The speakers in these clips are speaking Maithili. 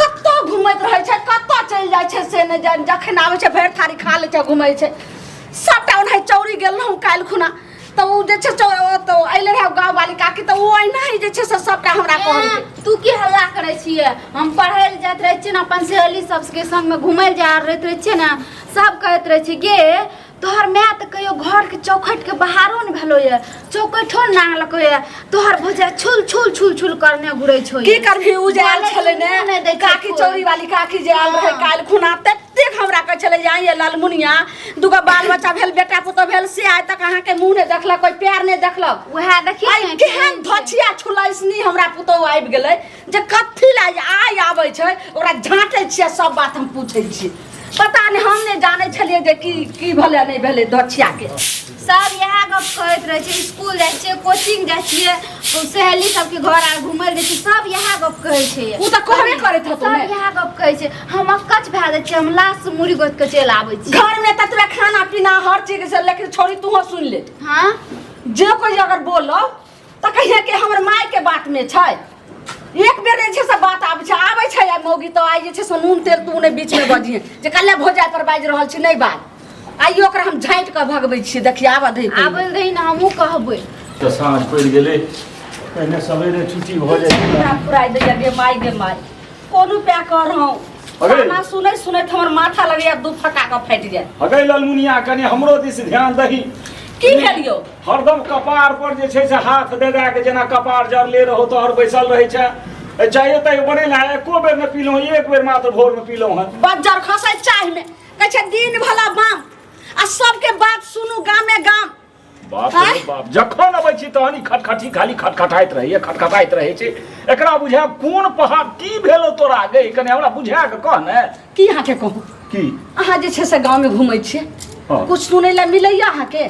कत्तो घुमैत रहै छै कत्तो चलि जाइ छै से नहि जानि जखन आबै छै भरि थारी खा लै छै घुमै छै सभटा ओनाहि चौरी गेल रहौँ काल्हि खुना तऽ ओ जे छै चौ- ओ तऽ अयले रहै गाँववाली काकी तऽ ओ अहिना ही जे छै से सभटा हमरा कहलकै ए, तू की हल्ला करे छिए हम पढ़े ले जात रहे छिए ने अपन सहेली सबके संग में घूमे ले जा रहत रहे छिए ने सब कहत रहे छिए गे तोहर माय तऽ कहियो घरके चौखटिके बाहरो ने भेलो ये चौकठो ने नांगलको ये तोहर भौजा छुल छुल छुल छुल करने घुरै छौ की करबी उ जे आयल छलै ने नहि दै छै काकी कोइ। चौरी वाली काकी जे आयल रहै काल्हि खुना ततेक हमरा कहै छलै जे आइए लालमुनिया दूगो बाल बच्चा भेल बेटा पुतहु भेल से आइ तक अहाँके मुँह नहि देखलक कोइ पैर नहि देखलक वएह देखिए आइ केहन धोछिया छुलैसनी हमरा पुतहु आबि गेलै जे कथी ला जे आइ आबै छै ओकरा झाँटै छियै सब बात हम पूछै छियै पता नहि हम नहि जानै छलियै जे की की भेलै नहि भेलै दछियाके सब इएह गप करैत रहै छै स्कूल जाइ छियै कोचिंग जाइ छियै ओ सहेली सबके घर आर घुमय लए जाइ छियै सब इएह गप कहै छै ओ तऽ कहबे करैत हेतौ सब ने इएह गप कहै छै हम अकच भए जाइ छियै हम लाश से मुड़ी गोति कऽ चलि आबै छी घरमे तऽ तोरा खाना पीना हर चीज से लेकिन छोड़ी तूहो सुन ले हाँ जे कोई अगर बोलो तऽ कहिया के हमर माय के बात में छै एक बेर जे छै से बात आबै छै आबै छै आ मौगी तऽ आइ जे छै से नून तेल तू नहि बीच में बजिहे जे कल्ले भोजा पर बाजि रहल छी नहि बाज आइयो ओकरा हम झाँटि कऽ भगबै छियै देखिए आबऽ दै आबै रही ने हमहूँ कहबै तऽ साँझ पड़ि गेलै पहिने सवेरे छुट्टी भऽ जाइ छै हमरा पुराइ दैया गे माय गे माय कोन उपाय कर हूँ अरे! खाना सुनैत सुनैत हमर माथा लगैया दू फटा कऽ फाटि जाय हगै ललमुनिया कनि हमरो दिस ध्यान दही की भेल यौ हरदम कपार पर जे छै से हाथ दे दे के जेना कपार जड़ले रहो तोहर बैसल रहे छै ए, चाहे तय बने ना एको बेर ने पीलहुँ एक बेर मात्र भोर में पीलहुँ हन बज्जर खसै चाह में कहै छै दिन भला बाम आ सबके बात सुनू गामे गाम बाप आँय? रे बाप जखन अबै छी तहन ई खटखटी खाली खटखटाइत रहैए खटखटाइत रहै छै एकरा बुझा कोन पहा की भेलो तोरा गे कने हमरा बुझा के कह ने की अहाँके कहू की अहाँ जे छै से गाँवमे घुमै छियै हँ। कुछ सुनै लए मिलैया अहाँके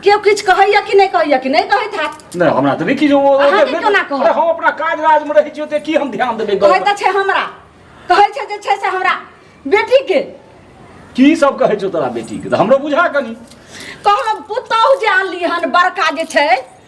केओ किछु कहैया कि नहि कहैया कि नहि कहैत हैत नहि हमरा तऽ नहि किछु ओ- अहाँके नहि- केना कहब? अरे हम अपना काज राजमे रहै छियै ओते की हम ध्यान देबै कहै तऽ छै हमरा कहै छै जे छै से हमरा बेटीके की सब कहै छौ तोरा बेटीके तऽ हमरो बुझा कनी कहलहुँ पुतहु जे आनली हन बड़का जे छै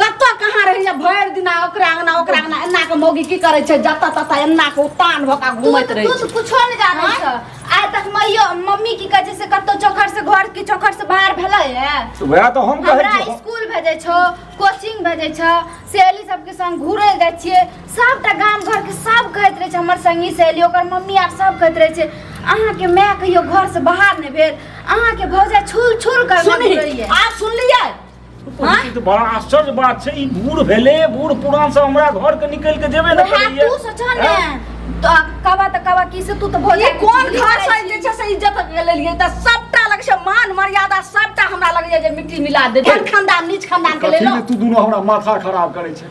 कतऽ कहाँ रहै छै भरि दिना ओकरा अंगना ओकरा अंगना एना के मौगी की करै छै जतऽ ततऽ एना के उतान भऽ कऽ घूमैत रहै तू छै तऽ कुछो नहि जानै आँय? छऽ आइ तक मैयो मम्मी की कहै छै से कतौ चौखर से घर की चौखर से बाहर भेलै है वएह तो हम कहै हमरा छी स्कूल भेजै छौ कोचिंग भेजै छौ सहेली सबके संग घुरै जाइ छियै सबटा गाम घर के सब कहैत रहै छै हमर संगी सहेली ओकर मम्मी आर सब कहैत रहै छै अहाँके माय कहियो घर से बाहर नहि भेल अहाँके भौजाई छुल छुल कर सुनही घुरैया आब सुनलियै ई तो बड़ा आश्चर्य बात छै ई बूढ़ भेले बूढ़ पुरान सब हमरा घर के निकल के जेबे न वएह करैया तू सोचह ने तो कबा त कबा की से तू त भोज ई कोन घर से जे छै से इज्जत लेलियै त सबटा लग छै मान मर्यादा सबटा हमरा लग जे मिट्टी मिला दे बड़ खानदान नीच खानदान के कथी लेलो ले तू दुनू हमरा माथा खराब करै छै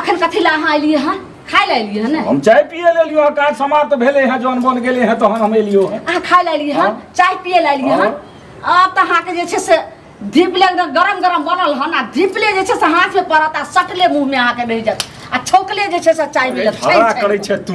अखन कथी ला अहाँ एलियै हँ खाय ला एलियै हँ ने हम चाय पिए ले लियो काज समाप्त भेले हैं जौन बन गेले हैं तहन हम एलियो हैं अहाँ खाय ला एलियै हँ हाँ। चाय पिए ला एलियै हँ हाँ। आब तऽ अहाँके जे छै से धीपले एकदम गरम गरम बनल हन आ धीपले जे छै से हाथमे पड़त आ सटले मुँहमे अहाँके रहि जायत आ छौकले जे छै से चाय मिलत छानि हरा छानि करे कऽ। छे तू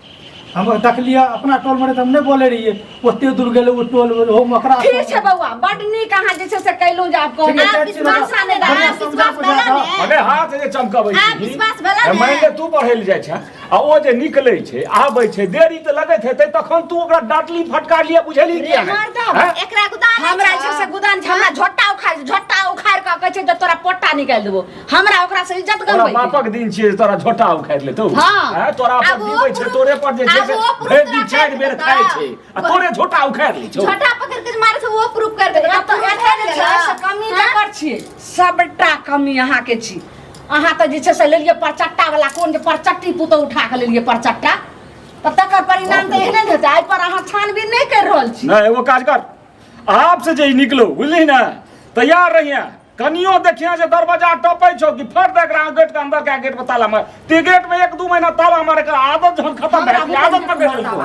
हम देखलियै अपना टोल में हम नहीं बोले रहिए ओते दूर गेले ओ टोल में हम ओकरा ठीक छै बौआ बड नीक अहाँ जे छै से कैलौ जे आब कहू आब विश्वास नै रहल आब विश्वास भेला ने अरे हाथ जे चमकाबै छी आब विश्वास भेला ने मानि ले तू पढ़ै ले जाइ छै आ ओ जे निकलै छै आबै छै देरी तऽ लगैत हेतै तखन तू ओकरा डाटली फटकार लिया बुझली कि रे मर्दा एकरा गुदान हमरा छै से गुदान छै हमरा झोटा उखाड़ झोटा उखाड़ के कहै छै जे तोरा पोटा निकाल देबो हमरा ओकरा से इज्जत तोरा गमबै बापक दिन छियै जे तोरा झोटा उखाड़ि लेतौ हाँ। हैं, तोरा पर आब ओ जीवै छै पुरुष- तोरे पर जे छै आब से ओ पुरुष भरि दिन तोरा चारि बेर करतै खाइ तऽ। छै आ तोरे झोटा उखाड़ि लै छौ छोटा पकड़ के मारे से वो प्रूफ कर देगा एतऽ पुरुष एतऽ कर जे देगा। छै से कमी हाँ? तकर छियै सबटा कमी अहाँके छी अहाँ तऽ जे छै से लेलियै परचट्टा वाला कोन जे परचट्टी पुतौ उठा कऽ लेलियै परचट्टा तऽ तकर परिणाम तऽ एहने ने हेतै एहि पर अहाँ छानबीन नहि करि रहल छी नहि एगो काज कर आप से जे ई निकलो बुझली ने तैयार रहिए कनियो देखिया जे दरवाजा टपै छौ कि फट दे एकरा गेट के अंदर के गेट पर ताला मार ते गेट में एक दू महीना ताला मारे के आदत जहन खत्म भए गेल आदत पर गेल तू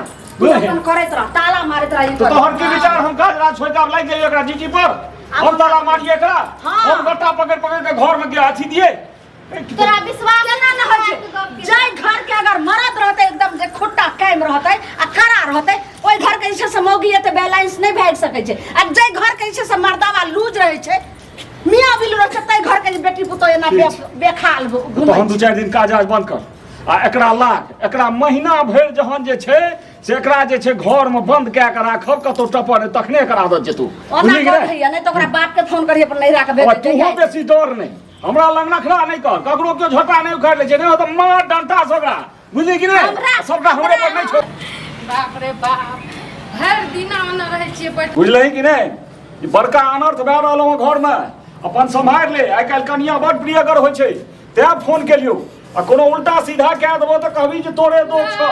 बुझलियै? अपन करैत रह ताला मारैत रह ई तो कर। तोहर की विचार हम काज राज छोड़ के आब लागि जाइए एकरा जीजी पर हम ताला मारिए एकरा हाँ। हम गट्टा पकड़ पकड़ के घर में गया अथी दिए तोरा विश्वास केना न होइ छै जाय घर के अगर मरद रहते एकदम जे खुट्टा कायम रहते आ खड़ा रहते ओइ घर के जे छै से मौगी एते बैलेंस नहि भागि सकै छै आ जाय घर के जे छै से मर्दावा लूज रहै छै मियाँ बिल रहै छै ताहि घर के जे बेटी पुतोह एना ठीक छै। बे- बेखाल घु- घुमै तहन छै। दू चारि दिन काज आज बंद कर आ एकरा लाग एकरा महीना भरि जहन जे छै से एकरा जे छै घर में बंद कए कऽ राखब कतौ टपर नहि, तखने एकर आदत जेतू ओना बुझलियै कि कौन नहि? होइए, नहि तऽ ओकरा बाप के फोन करिए अपन नैहरा के भेज अब देतै, तूहो जाय। बेसी डर नहि हमरा लग नखरा नहि कर ककरो केओ झोटा नहि उखाड़ि लै छै नहि तऽ मार डंटा से ओकरा बुझली कि नहि सबटा हमरे पर नहि छोड़ बाप रे बाप भरि दिना ओना रहै छियै बैठ बुझलही कि नहि ई बड़का अनर्थ भए रहल हँ घरमे अपन सम्हारि ले आइ काल्हि कनिया बड प्रियगर होइ छै तेँ फोन केलियौ आ कोनो उल्टा सीधा कए देबो तऽ कहबी जे तोरे दोष छौ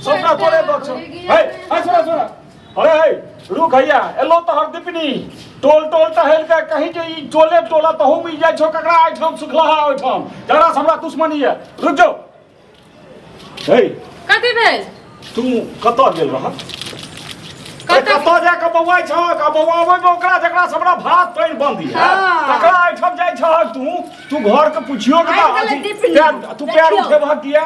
सबटा तोरे दोष छौ है है सुन सुन अरे है रुक हैया एलो तोहर दिपनी टोल टोल टहल के कहीं जे ई टोले टोला तहू मिल जाइ छौ ककरा आइठाम सुखलहा ओइठाम जकरा से हमरा दुश्मनी है रुक जो हे कथी भेल तू कतऽ गेल रह कतऽ कतऽ जा कऽ बौआइ छह आ बौआबै मे ओकरा जकरा से हमरा भात पानि बंद है हाँ। तकरा आइठाम जाइ छह तू तू घर के पुछियो के आइ गेलै अथी दिपनी। पैर- तू पैर देखियौ। उठेबह किया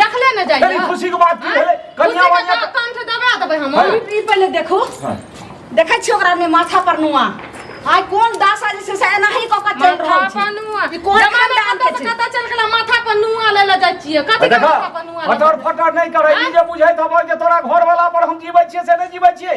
देखले न जाइए अरे खुशी के बात की भेलै कन्या कन्या वाला वाला कान से दबा देबै हम हाँ। ई पहिले देखो हाँ। देखै छियै ओकरा ने माथा पर नुआ आइ कोन दासा जे छै से एनाही कऽ कऽ चल माथा रहल छै पर नुआ ई कोन जमाना खानदान के कतऽ छै कतऽ चल गेला माथा पर नुआ ले ले जाइ छियै कथी देखा माथा पर नुआ ले फटर फटर नहीं करे ई जे बुझे तब जे तोरा घर वाला पर हम जीवे छिए से नहीं जीवे छिए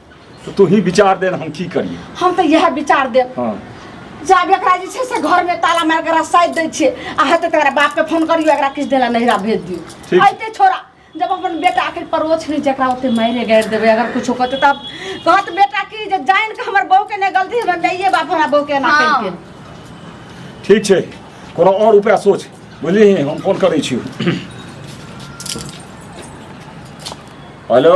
तऽ तू ही विचार दे हम की करिए हम तऽ इएह विचार देब हँ जाब एकरा जे छै से घरमे ताला मारि कऽ रसाइ दै छियै आ हेतै तऽ एकरा बापके फोन करियो एकरा किछु देला नहिरा भेज दियौ ठीक। अइते छोड़ा जब अपन बेटा आखिर परोछ नहि जकरा ओते मारे गाड़ि देबै अगर कुछो कहतै तब कहत बेटा की जे जानि कऽ हमर बहूके नहि गलती हमर माइए बाप हमरा बहूके एना हँ। केलकै ठीक छै कोनो आओर उपाय सोच बुझलिही हम फोन करै छी हेलो